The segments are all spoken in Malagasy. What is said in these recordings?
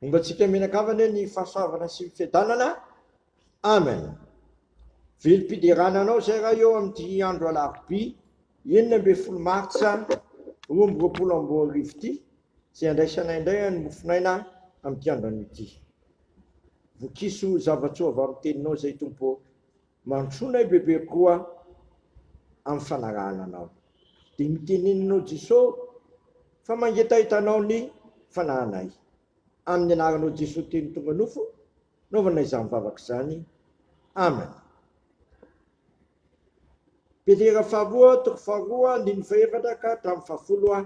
Ombantsika mianakavana anie ny fahasoavana sy ny fiadanana. Amen. Velom-piderana anao izay raha eo amin'ity andro alarobia enina ambin'ny folo martsa roa amby roapolo amby roa arivo ity izay andraisanay indray ny mofonaina amin'ity andro anio ity. Vokiso zava-tsoa avy amin'ny teninao izay Tompo. Mantsoina i Bebe koa amin'ny fanarahana anao. Dia miteneninao Jesoa fa mangetaheta anao ny fanahanay. Amin'ny anaranao Jesoa teny tonga nofo naovana izany vavaka izany. Amen. Petera faharoa toko faharoa andininy fahefatra ka hatramin'ny fahafolo a.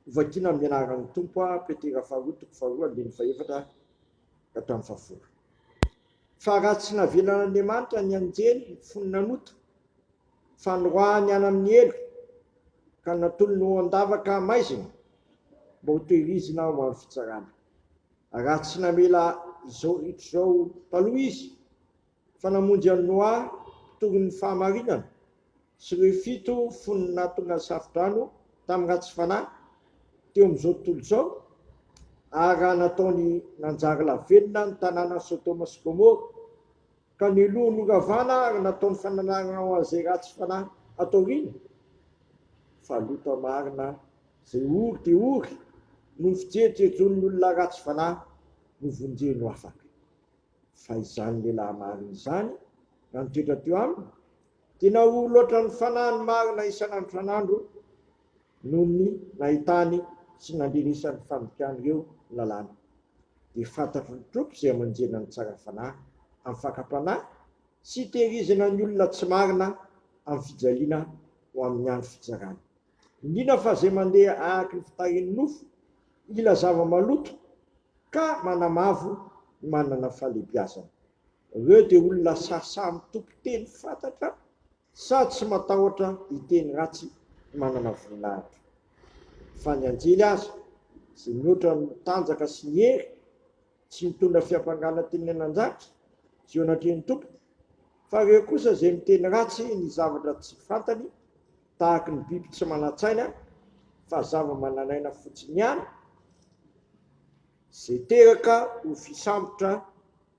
Hovakiana amin'ny anaran'ny Tompo a Petera faharoa toko faharoa andininy fahefatra. ka hatramin'ny fahafolo. Fa raha tsy navelan'Andriamanitra ny anjely ny fony nanota, fa noroahany any amin'ny helo, ka natolony ho an-davaka hamaizina, mba ho tehirizina ho amin'ny fitsarana, raha tsy namela izao ritra izao taloha izy, fa namonjy an'i Noa mpitory ny fahamarinana sy ireo fito fony nahatonga ny safo-drano tamin'ny ratsy fanahy teo amin'izao tontolo izao, ary raha nataony nanjary lavenona ny tanànan'i Sodoma sy Gomora, ka niloa noravana ary nataony fananarana ho an'izay ratsy fanahy ato aoriana? Fa Lota marina izay ory dia ory noho ny fijejojejon'ny olona ratsy fanahy novonjeny ho afaka. Fa izany lehilahy marina izany raha nitoetra teo aminy dia nahory loatra ny fanahiny marina isan'andro isan'andro noho ny nahitany sy nandrenesany fandikana ireo lalàna. Dia fantatry ny Tompo izay amanjena ny tsara fanahy amin'ny fakam-panahy sy itehirizana ny olona tsy marina amin'ny fijaliana ho amin'ny andro fitsarany. Indrindra fa izay mandeha ahaky ny fitahian'ny nofo, ila zava-maloto ka manamavo ny manana fahalebiazana. Ireo dia olona sahasaha amin'ny tompon-teny fatratra sady tsy matahotra hiteny ratsy ny manana voninahitra. Fa ny anjely aza, izay mihoatra ny tanjaka sy ny hery, tsy mitondra fiampangana teny an-dratsy eo anatrehan'ny tompony, fa ireo kosa izay miteny ratsy ny zavatra tsy fantany Tahaka ny biby tsy manan-tsaina fa zava-manan'aina fotsiny ihany izay teraka ho fisambotra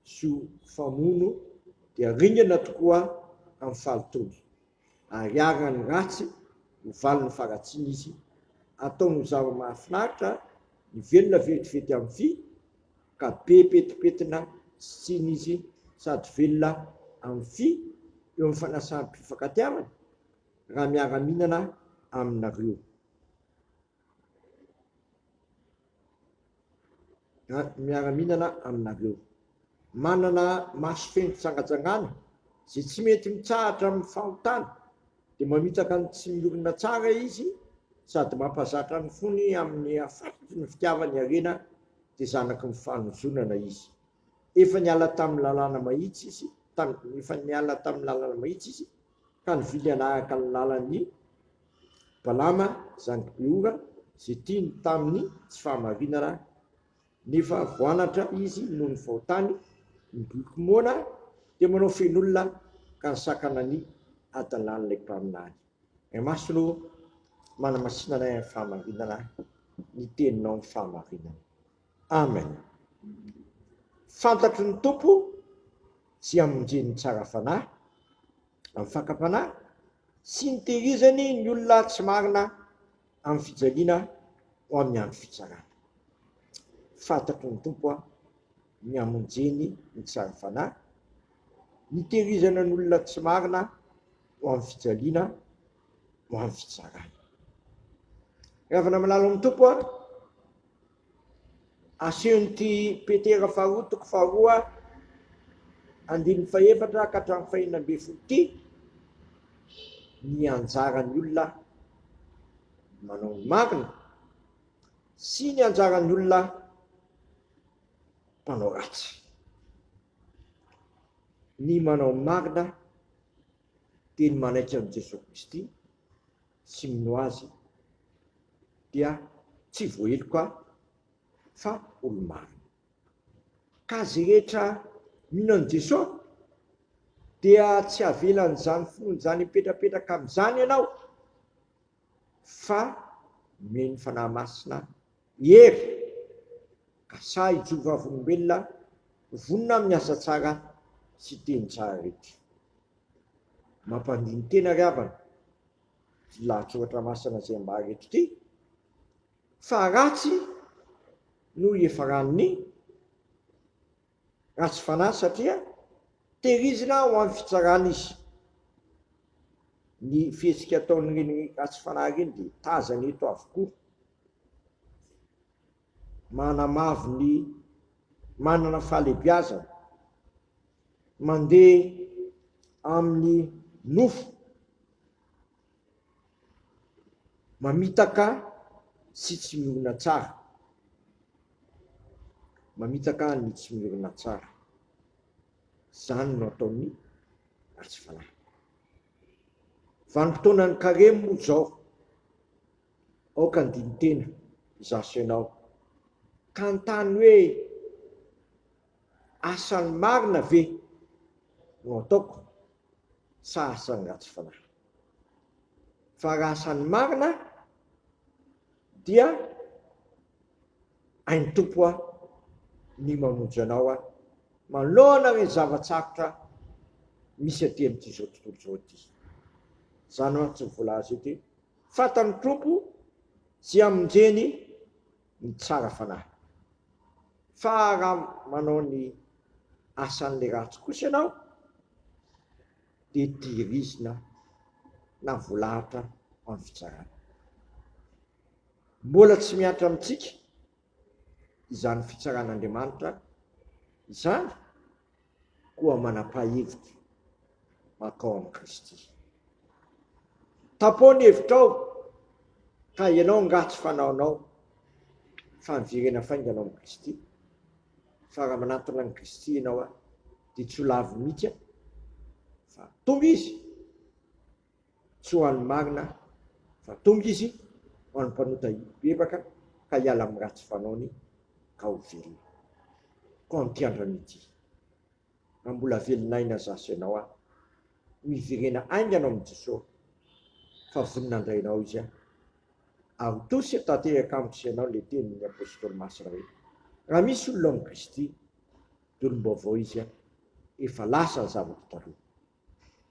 sy ho mpamono dia ringana tokoa amin'ny fahalotoany. Ariarina ny ratsy ho valin'ny faharatsiana izy, ataony ho zava-mahafinaritra ny velona vetivety amin'ny vy ka be petipetina sy tsiny izy sady velona amin'ny vy eo amin'ny fanasam-pifankatiavana, raha miara-mihinana aminareo. Raha miara-mihinana aminareo. Manana maso feno fitsangatsangana, izay tsy mety mitsahatra amin'ny fahotana, dia mamitaka ny tsy miorina tsara izy sady mampazatra ny fony amin'ny hafatotry ny fitiavany harena, dia zanaky ny fanozonana izy. Efa niala tamin'ny lalàna mahitsy izy, efa niala tamin'ny lalana mahitsy izy, Ka nividy hanahaka ny lalan'i Balama zanak'i Beora izay tiany tamin'ny tsy fahamarinana, nefa voanatra izy noho ny fahotany, ny boky moana dia manao feno olona ka nisakana ny hadalàn'ilay mpaminany. Ny masony ô, manamasinana ny fahamarinana, ny teninao ny fahamarinana. Amen fantatro ny Tompo tsy hamonjeny tsara fanahy amin'ny fakam-panahy sy ny tehirizany ny olona tsy marina amin'ny fijaliana ho amin'ny andro fitsarana fantatro ny Tompo a ny hamonjeny ny tsara fanahy ny tehirizana ny olona tsy marina ho amin'ny fijaliana ho amin'ny fitsarana ravana malala amin'ny Tompo a Asehon'ity Petera faharoa toko faharoa andininy fahefatra ka hatramin'ny fahenina ambin'ny folo ity ny anjaran'ny olona manao ny marina sy ny anjaran'ny olona mpanao ratsy. Ny manao ny marina dia ny manaiky an'i Jesoa Kristy sy mino azy dia tsy voaheloka fa olo-marina. Ka izay rehetra mino an'i Jesoa dia tsy havelan'izany finoany izany hipetrapetraka amin'izany ianao fa omeny Fanahy Masina I Hery, ka sahy hijoro vavolombelona vonona amin'ny asa tsara sy teny tsara rehetra. Mampandini-tena ry havana ity lahatsoratra masina izay ambara eto ity, fa ratsy noho i Efa Ranon'i. Ratsy fanahy satria tehirizina ho amin'ny fitsarana izy. Ny fihetsika ataon'ireny ratsy fanahy ireny dia tazana eto avokoa. Manamavo ny manana fahalebiazana, mandeha amin'ny nofo. Mamitaka sy tsy miorina tsara. Mamitaka ny tsy miorina tsara. Izany no ataon'ny ratsy fanahy. Vanim-potoanan'ny karemy moa izao. Aoka handini-tena izaho sy ianao, ka hanontany hoe, Asan'ny marina ve no ataoko? sahaza ny ratsy fanahy. Fa raha samy marina dia hain'ny Tompo aho ny mamonjy anao aho manoloana ireny zava-tsarotra misy aty amin'ity izao tontolo izao ity. Izany mantsy no voalaza eto hoe, fantan'ny Tompo tsy hamonjeny ny tsara fanahy. Fa raha manao ny asan'ilay ratsy kosa ianao, dia tehirizina na voalahatra amin'ny fitsarana. Mbola tsy mihatra amintsika izany fitsaran'Andriamanitra izany. koa manam-pahefitra mankao amin'i Kristy. Tapoha ny hevitrao ka ianao angaha tsy fanaonao fa miverena faingana ao amin'i Kristy? Fa raha manantona an'i Kristy ianao dia tsy ho lavo mihitsy aho fa tonga izy. tsy ho an'ny marina fa tonga izy ho an'ny mpanota hibebaka ka hiala amin'ny ratsy fanaony ka ho velona. Koa amin'ity andrano ity, raha mbola velon'aina zah sy ianao an, ho hiverena haingana ao amin'i Jesoa fa vonona handray anao Izy an. Ary ho tosia tanteraka amiko sy ianao ilay tenin'ny Apostoly Masina hoe, raha misy olona ao amin'i Kristy, dia olom-baovao izy an, efa lasa ny zava-ko taloha.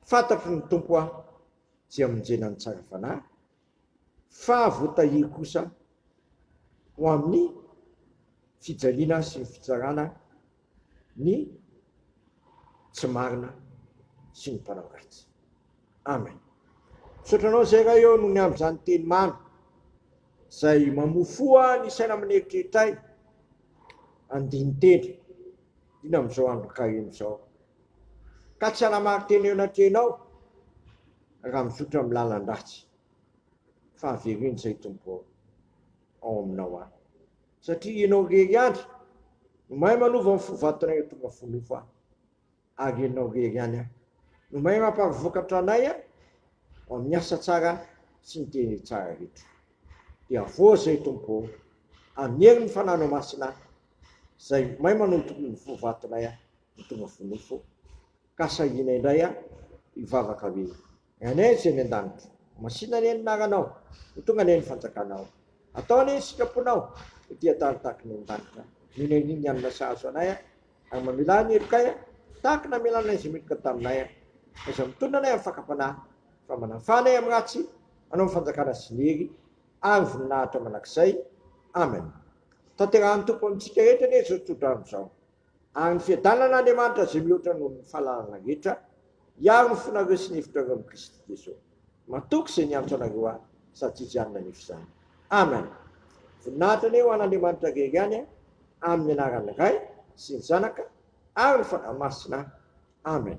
Fantatro ny Tompo aho tsy hamonjena ny tsara fanahy, fa voatahiry kosa ho amin'ny fijaliana sy ny fitsarana ny tsy marina sy ny mpanao ratsy. Amen. Misaotra anao Zay Ray ô nony amin zany teny mamy Zay mamofoa ny saina amin eritreritray andiniteny iny amin zao andro karemy zao ka tsy hanamary tena eo anatrehanao raha mizotra amin'ny lalan-dratsy, fa avereno izay Tompo ao aminao aho, satria Ianao irery ihany no mahay manova ny fo vatonay ho tonga fo nofo aho, ary Ianao irery ihany no mahay mamparivokatra anay ao amin'ny asa tsara sy ny teny tsara rehetra. Dia avoaha izay Tompo ô, amin'ny herin'ny Fananao Masina, izay mahay manodorina ny fo vatonay aho. Fa tonga fo nofo ka sahina indray aho hivavaka hoe, Aney Tsy eny an-danitra, masina anie ny naranao, ho tonga anie ny fanjakanao, atao anie ny sitraponao ety an-tany tahaka ny any an-danitra, mino ahy ny hanina sahazo anay aho, ary mamela ahy ny helokay aho, tahaka ny namelanay izay meloka taminay aho, fa izay mitondra anay amin'ny fakam-panahy, fa manafaha anay amin'ny ratsy, hanao ny fanjakana sy ny hery ary ny voninahitra mandrakizay. Amen. Tanterahan'ny Tompo amintsika rehetra anie izao tsodrano izao. Ary ny fiadanan'Andriamanitra izay mihoatra noho ny fahalalana rehetra, hiaro ny fonareo sy ny hevitrareo amin'i Kristy Jesoa. Matoky izay niantso anareo ahy, sady tsy hijanona anefa izany. Amen. Voninahitra anie ho an'Andriamanitra irery ihany amin'ny anaran'ny Ray sy ny Zanaka ary ny Fanahy Masina. Amen.